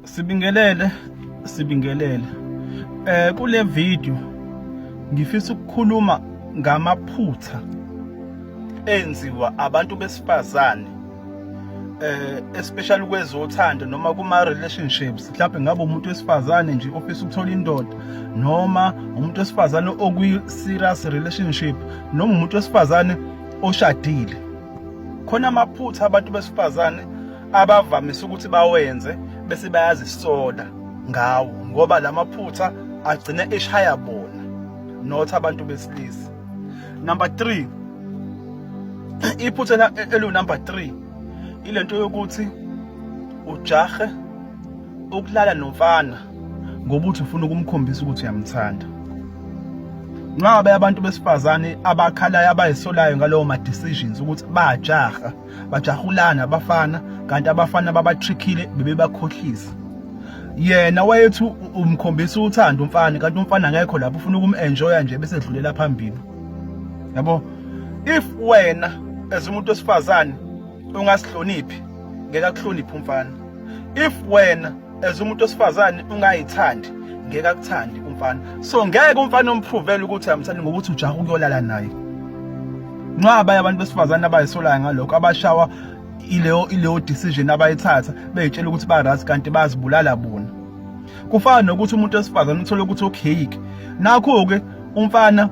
Sibingelele sibingelele eh kule video ngifisa ukukhuluma ngamaphutha enziwa abantu besifazane eh especially kwezothando noma kuma relationships mhlawumbe ngabe umuntu wesifazane nje ofisa ukuthola indoda noma umuntu wesifazane okwi serious relationship noma umuntu wesifazane oshadile khona amaphutha abantu besifazane abavamise ukuthi bawenze bese bayazisola ngawo ngoba lamaphutha agcina eshaya bona not abantu besilisa number 3 iphutha elu number 3 ilento yokuthi ujahe ukulala nomfana ngoba uthi ufuna ukumkhombisa ukuthi uyamthanda nxa abantu besifazane abakhalayo abayisolayo ngalowo ma decisions ukuthi bajaha bajahulana abafana kanti abafana babatrickile bebebakhohlisa yena wayethi umkhombisa uthando umfana kanti umfana ngekho lapho ufuna ukumenjoya nje bese edlulela phambili yabo if wena as umuntu osifazane ungasihloniphi ngeke akuhloniphe umfana if wena as umuntu osifazane ungayithandi ngeke akuthandi umfana so ngeke umfana ompruvele ukuthi amthandi ngokuthi ujaha ukuyolala naye nqaba abantu besifazane abayisolayo ngalokho abashawa ileyo ileyo decision abayithatha beyitshela ukuthi barazi kanti bazibulala bona kufana nokuthi umuntu wesifazane uthole ukuthi okay nakho ke umfana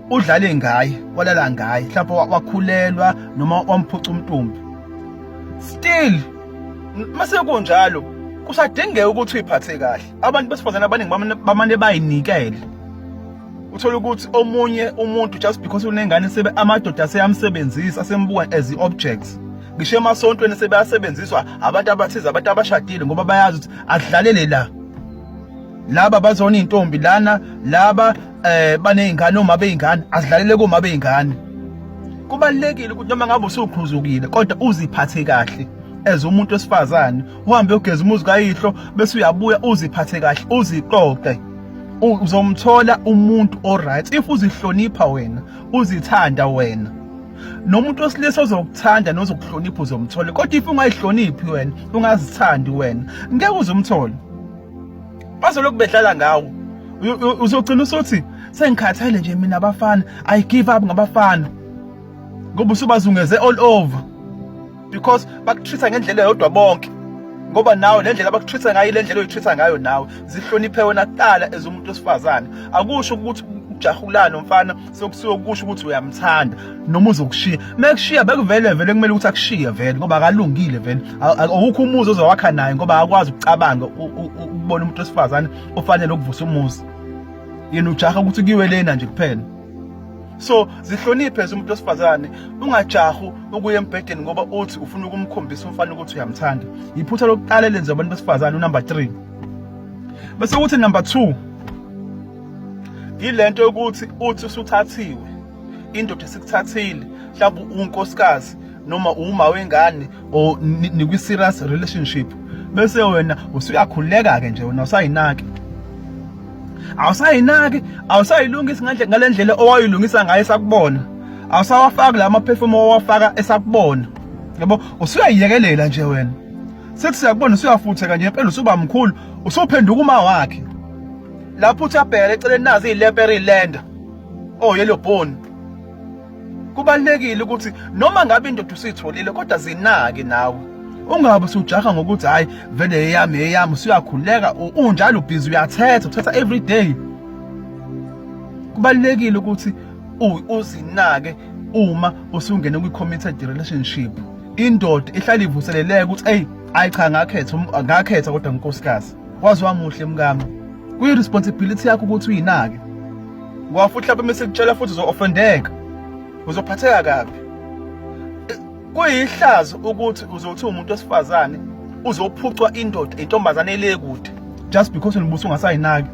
udlale ngaye walala ngaye mhlawumbe wakhulelwa noma wamphuca umntumbi still masekunjalo kusadingeka ukuthi uyiphathe kahle abantu besifazane abaningi bamane bayinikele uthola ukuthi omunye umuntu just because unengane sebe amadoda aseyamsebenzisa asembuka as i-objects ngisho emasontweni sebeyasebenziswa abantu abathize abantu abashadile ngoba bayazi ukuthi adlalele la laba bazona intombi lana laba eh banezingane uma beyingane azidlalele kuma beyingane kubalekile ukuthi noma ngabe usukhuzukile kodwa uziphathe kahle as umuntu wesifazane uhambe ugeza umuzi kayihlo bese uyabuya uziphathe kahle uziqoqe uzomthola umuntu oright if uzihlonipha wena uzithanda wena nomuntu wesilisa ozokuthanda nozokuhlonipha uzomthola kodwa if ungayihloniphi wena ungazithandi wena ngeke uzomthola bazolokhu bedlala ngawo uzogcina usothi sengikhathele nje mina abafana i give up ngabafana ngoba usubazungeze all over because bakutreata ngendlela yodwa bonke ngoba nawe le ndlela abakutreata ngayo le ndlela oyitreata ngayo nawe zihloniphe wena kuqala ezomuntu osifazane akusho ukuthi ujahulana umfana sokusuke kusho ukuthi uyamthanda noma uzokushiya mekushiya bekuvele vele kumele ukuthi akushiye vele ngoba akalungile vele awukho umuzi ozowakha naye ngoba akwazi ukucabanga ukubona umuntu wesifazane ofanele ukuvusa umuzi yena ujaha ukuthi kuyiwe lena nje kuphela so zihloniphe umuntu wesifazane ungajahu ukuya embhedeni ngoba uthi ufuna ukumkhombisa umfana ukuthi uyamthanda yiphutha lokuqala elenza abantu besifazane unumber 3 bese kuthi number 2 yilento yokuthi uthi usuthathiwe indoda esikuthathile mhlawumbe unkosikazi noma uma wengane or nikwi serious relationship bese wena usuyakhuleka ke nje wena usayinaki awusayinaki awusayilungisa ngale ngalendlela owayilungisa ngayo sakubona awusawafaki la maperfume owafaka esakubona yabo usuyayiyekelela nje wena sethi siyakubona usuyafutheka nje impela usuba mkhulu usuphenduka uma wakhe lapho uthi abhekele eceleni nazi ileperi lenda oh yellow bone kubalekile ukuthi noma ngabe indoda usitholile kodwa zinake nawe ungabe usujaha ngokuthi hayi vele eyami eyami usuyakhuleka unjalo busy uyathetha uthatha every day kubalekile ukuthi uzinake uma usungene kwi committed relationship indoda ihlala ivuseleleke ukuthi hey ayi cha ngakhetha ngakhetha kodwa unkosikazi waze wamuhle mkami kuyi responsibility yakho ukuthi uyinake ngoba futhi lapho mase kutshela futhi uzo-offendeka uzophatheka kabi kuyihlazo ukuthi uzothi umuntu osifazane uzophucwa indoda intombazane ele kude just because ulibusa ungasayinaki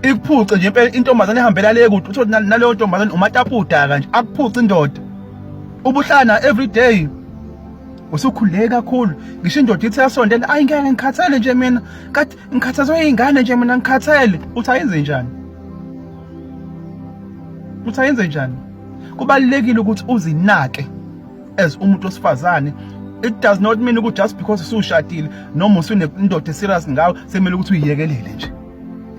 ikuphuce nje impela intombazane ehambela le kude uthi naleyo ntombazane umatapuda kanje akuphuce indoda ubuhlana every day usukhuleke kakhulu ngisho indoda ithi yasondela ayi ngeke ngikhathele nje mina kade ngikhathazwe iy'ngane nje mina ngikhathele uthi ayenze njani uthi ayenze njani kubalulekile ukuthi uzinake as umuntu osifazane it does not mean ukuthi just because usushadile noma usunendoda eserious ngawe sekumele ukuthi uyiyekelele nje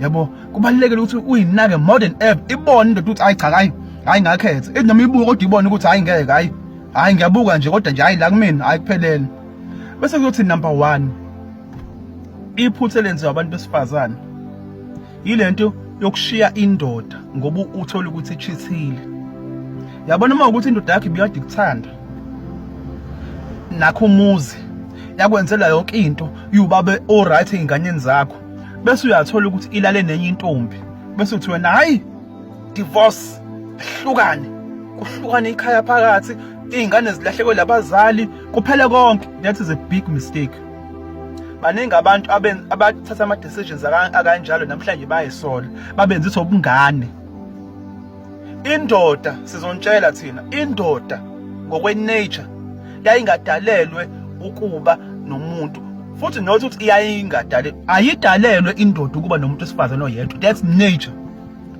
yabo kubalulekile ukuthi uyinake more than ever ibone indoda ukuthi ayi cha hayi hayi ngakhethe noma ibuka kodwa ibone ukuthi hayi ngeke hayi hayi ngiyabuka nje kodwa nje hayi la kumina hayi kuphelele bese kuyothi number 1 iphuthe lenziwa abantu besifazane yilento yokushiya indoda ngoba uthola ukuthi ichithile yabona uma ukuthi indoda yakhe ibiyade kuthanda nakho umuzi yakwenzela yonke into yubabe oright ingane zakho bese uyathola ukuthi ilale nenye intombi bese uthi wena hayi divorce hlukane kuhlukane ikhaya phakathi iy'ngane zilahlekwe labazali kuphele konke that is a big mistake baningi abantu abathatha ama-decisions akanjalo namhlanje bayisola babenzisa ubungane indoda sizontshela thina indoda ngokwenature yayingadalelwe ukuba nomuntu futhi not ukuthi iyayingadalelwe ayidalelwe indoda ukuba nomuntu wesifazane oyedwa that's nature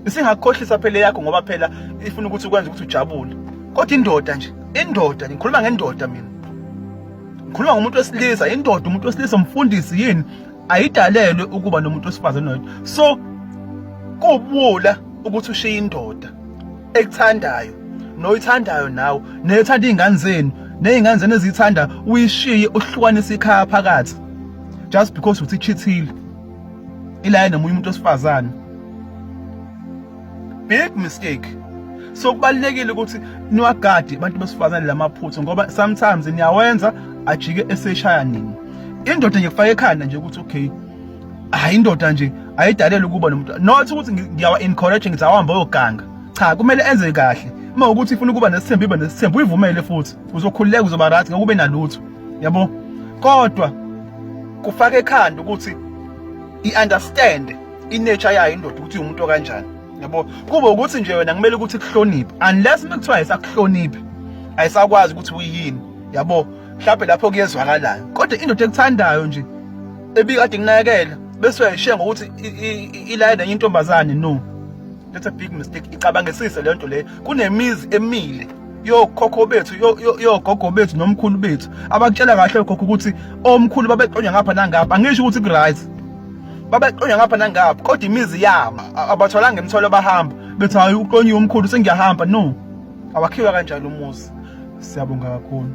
isingakukhohlisa phela yakho ngoba phela ifuna ukuthi ukwenze ukuthi ujabule kodwa indoda nje indoda ngikhuluma ngendoda mina ngikhuluma ngomuntu wesilisa indoda umuntu wesilisa umfundisi yini ayidalelwe ukuba nomuntu wesifazane noyedwa so kubula ukuthi ushiye indoda ekuthandayo noyithandayo nawe nethanda izingane zenu nezingane zenu ezithanda uyishiye uhlukanise ikhaya phakathi just because uthi chithile ilaye nomunye umuntu osifazane big mistake so kubalekile ukuthi niwagade abantu besifazane lamaphutha ngoba sometimes niyawenza ajike eseshaya nini indoda nje kufaka ekhanda nje ukuthi okay hayi indoda nje ayidalela ukuba nomuntu not ukuthi ngiyawa encourage ngithi awuhambe oyoganga cha kumele enze kahle uma ukuthi ifuna ukuba nesithembu ibe nesithembu uyivumele futhi uzokhululeka uzoba right ngeke ube nalutho yabo kodwa kufaka ekhanda ukuthi i-understand i-nature yayo indoda ukuthi umuntu okanjani yabo kube ukuthi nje wena kumele ukuthi kuhloniphe unless uma kuthiwa ayisakuhloniphi ayisakwazi ukuthi uyini yabo mhlawumbe lapho kuyezwakalayo kodwa indoda ekuthandayo nje ebikade nginakekela bese uyayishiya ngokuthi ilayela intombazane no that's a big mistake icabangisise le nto leyo kunemizi emile yokhokho bethu yogogo bethu nomkhulu bethu abakutshela kahle okhokho ukuthi omkhulu babeqonywa ngapha nangapha angisho ukuthi kuright babeqonywa ngapha nangapha kodwa imizi yabo abatholanga imithwalo bahamba bethi hayi uqonyiwe umkhulu sengiyahamba no awakhiwa kanjalo umuzi siyabonga kakhulu